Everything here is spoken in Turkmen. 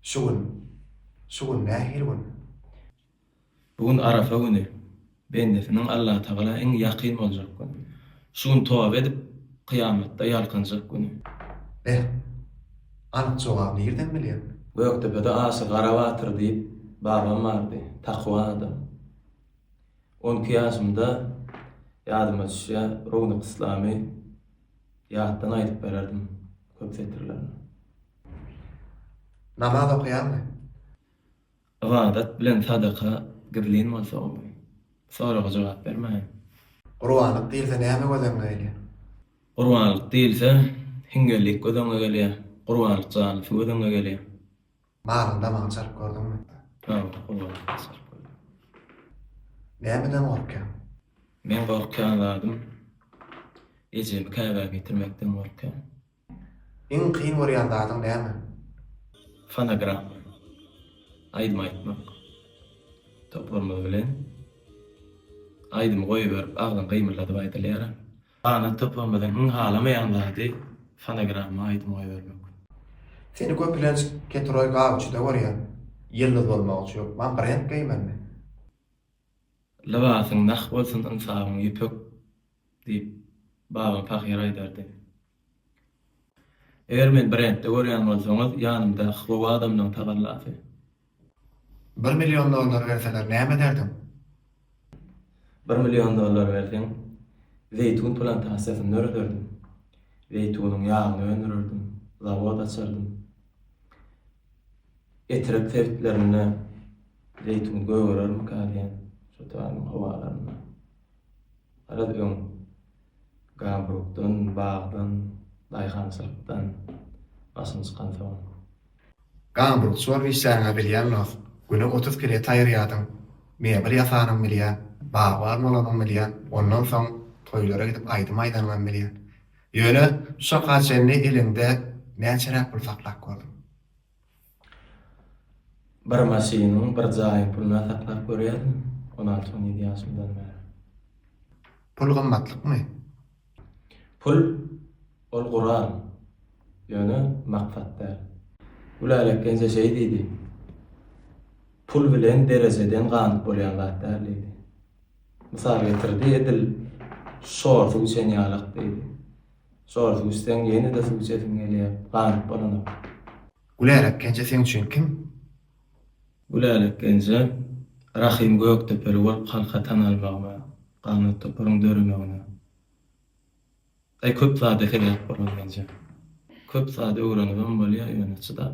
Şu gün, şu gün nähili gün? Bu gün Arafa güni, bendesiniň Allatagala iň ýakyn boljak güni. Şu gün toba edip, kyýamatda ýalkanjak güni. Beh, anyk jogaby nirden bilýäň? Gökdepede Aşyr Garabatyr diýip babam bardy, takwa adam. On iki ýaşymda, ýadyma düşýär, Rownak Yslamy. Ýatdan aýdyp bererdim köp setirlerini. Namaz okaýaňmy? Ybadat bilen sadaka gizlin bolsa gowy. Soraga jogap bermäýin. Gurbanlyk diýilse näme göz öňüňe gelýär? Gurbanlyk diýilse, hiňňellik göz öňüňe gelýär, gurbanlyk jalysy göz öňüňe gelýär. Maryň damagyny çalyp gördüňmi? Damagyny gulagymdan çalyp gördüm. Nämeden gorkýaň? Meň gorkýan zadym ejemi käbä getirmekden gorkýan. Iň kyn görýän zadyň näme? Fonogram. Aýdym aýtmak. Toparymyz bilen aýdymy goýberip agzyňy gymyldadyp aýdylýar. Alan toplamyzyň iň halamaýan zady fonogramma aýdym goýbermek. Seni köpülenç Keturoý Gawçyda görýän. Ýyldyz bolmak üçin hökman brend geýmelimi? Lybasyň nah bolsun ynsabyň ýüpek diýip Babam pahyr aýdardy. Eger meni brendde görýän bolsaňyz ýanymda hlow adamlaň tagallasy. Bir million dollar berseler näme ederdiň? Bir million dollar berseň, zeýtun plantasiýasyny dörederdim. Zeýtunyň ýagyny öndürerdim, zawod açardym. Etrek sebitlerinde zeýtun gögerermika diýýän, şu taýyň howalarynda. Garaz öň gambrukdan, bagdan, daýhançylykdan başym çykansoň. Gamburg çor bişäňä bilýän dost, güne otuz pilet aýyrýadyň, mebel ýasanyňy bilýän, bagban bolanyňy bilýän, ondan soň toýlara gidip aýdym aýdanyňam bilýän. Ýöne şu çaka çenli eliňde näçeräk pul saklap gördüň? Bir maşynyň, bir jaýyň puluna saklap görýärin, on alty-on ýedi ýaşymdan bäri. Pul gymmatlykmy? Pul, ol gural, ýöne maksat däl. Gülälek gelnje şeý diýdi, Pul bilen derejeden ganyp bolýan zat däl diýdi. Mysal getirdi, edil şor suw içen ýalak diýdi. Şor suw içseň ýene-de suw içesiň gelýär, ganyp bolanok. Gülälek gelnje seň üçin kim? Bu lälekgenje Rahym Gökdepeli bolup halka tan almagyna, ganat toparyň döremegine, aý köp zada sebäp bolan menje. Köp zat öwrenibem bolýar ýöne çydap.